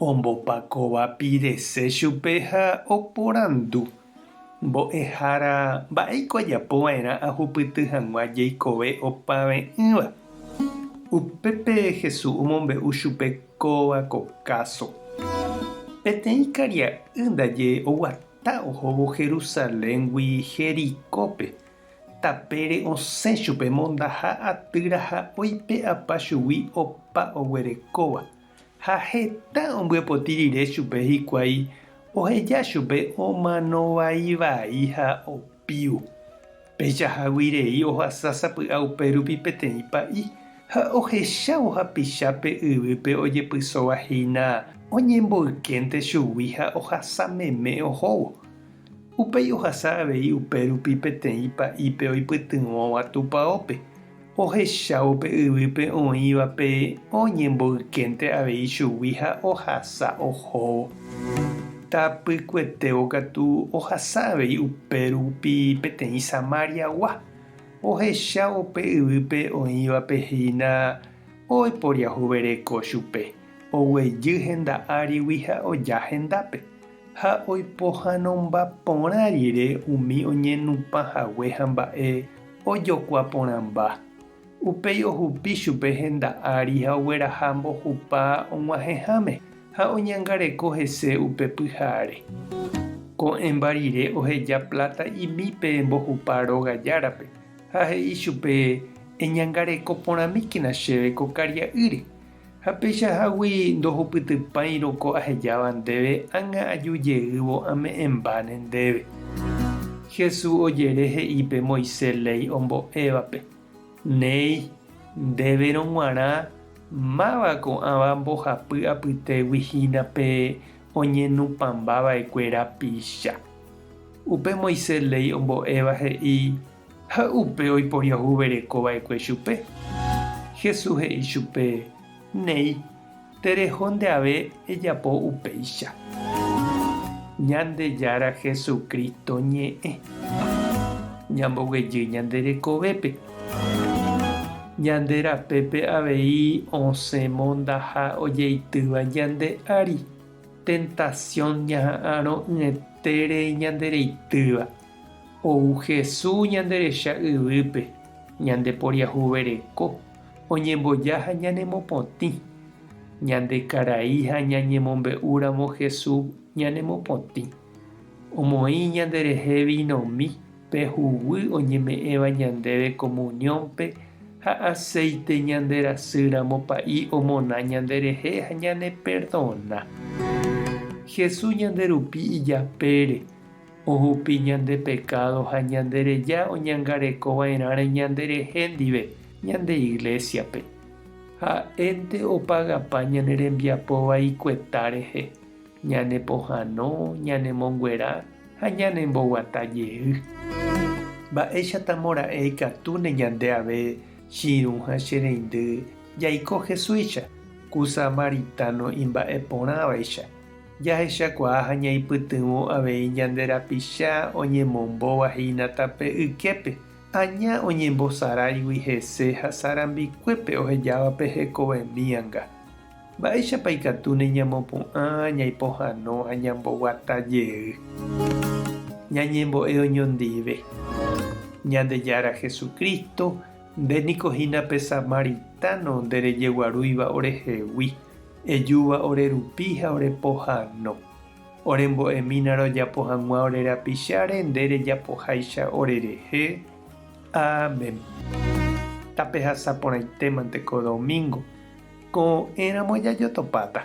Ombopakóva Pirese chupe ha oporandu, Mbo'ehára, mba'éiko ajapo va'erã ahupyty hag̃ua jeikove opave'ỹva? Upépe Jesús omombe'u chupe kóva ko káso, Peteĩ karia'y ndaje oguata ohóvo Jerusaléngui Jericópe, tapére osẽ chupe mondaha atyra ha oipe'apa chugui opa oguerekóva. Ha heta ombyepoti rire chupe hikuái oheja chupe omano vai vai ha opiu. Péicha hágui rei ohasa sapy'a upérupi peteĩ pa'i ha ohechávo hapicha pe yvýpe ojepysóva hína oñemboykénte chugui ha ohasa meme ohóvo. Upéi ohasa avei upérupi peteĩ pa'ípe oipytyvõva tupaópe. ohechávo pe yvýpe oĩvape oñemboykénte avei chugui ha ohasa ohóvo. Tapykuetévo katu ohasa avei upérupi peteĩ Samariagua, ohechávo pe yvýpe oĩvape hína oiporiahuvereko chupe, oguejy henda árigui ha oja hendápe, ha oipohãnomba porã rire umi oñenupã hague ha mba'e Ojokua porãmba. Upéi ohupi chupe henda ári ha ogueraha mbohupa og̃uahẽháme ha oñangareko hese upe pyhare. Ko'ẽmba rire oheja pláta imi pe mbohupa róga járape ha he'i chupe, Eñangareko porãmíkena chéve ko karia'ýre. Ha peichahágui ndohupytypáirõ ko ahejáva ndéve ág̃a aju jeývo ame'ẽmbáne ndéve. Jesús ojere he'i pe Moisés léi ombo'évape, Néi, ndéverõ g̃uarã máva ko'ãva mbohapy apytégui hína pe oñenupãmba va'ekue rapicha. Upe Moisés léi ombo'éva he'i, Ha upe oiporiahuvereko va'ekue chupe. Jesús he'i chupe, Néi, tereho ndeave ejapo upéicha. Ñandejára Hesu Crísto ñe'ẽ. Ñamboguejy ñande rekovépe. Ñande rapépe avei osẽ mondaha ojeitýva ñande ári, tentación ñaha'arõ'ỹetére ñande reitýva. Ou Jesús ñanderecha yvýpe, ñandeporiahuvereko, oñemboja ha ñanemopotĩ. Ñande karai ha ñañemombe'úramo Jesús ñanemopotĩ. Omoĩ ñanderehe vinomi pe huguy oñeme'ẽva ñandéve komuniónpe ha aséite ñanderasýramo Pa'i omona ñanderehe ha ñaneperdona. Jesús ñanderupi ijapére Ohupi ñande pekádo ha ñandereja oñangarekova'erãre ñanderehe ndive ñande iglésiape. Ha'énte opagapa ñane rembiapo vaikueta rehe, ñanepohãno, ñanemonguera ha ñanemboguata jey. Mba'éichatamo ra'e ikatúne ñande ave Chiirũ ha Che reindy jaiko Jesúicha, ku Samaritano imba'eporãvaicha! Jahechakuaa ha ñaipytyvõ avei ñande rapicha oñemombóva hína tape yképe, aña oñembosaráigui hese ha sarambikuépe ohejávape hekovemíanga. Mba'éichapa ikatúne ñamopu'ã ñaipohãno ha ñamboguata jey. Ñañembo'e oñondive. Ñandejára Jesucristo, nde niko hína pe samaritano nderejeguarúiva orehegui. Ejúva ore rupi ha ore pohano. Ore mbo'emína rojapo hag̃ua ore rapicháre, nde rejapoháicha ore rehe. Amén. Tapehasa porãitémante ko domingo, ko'ẽramo jajotopáta.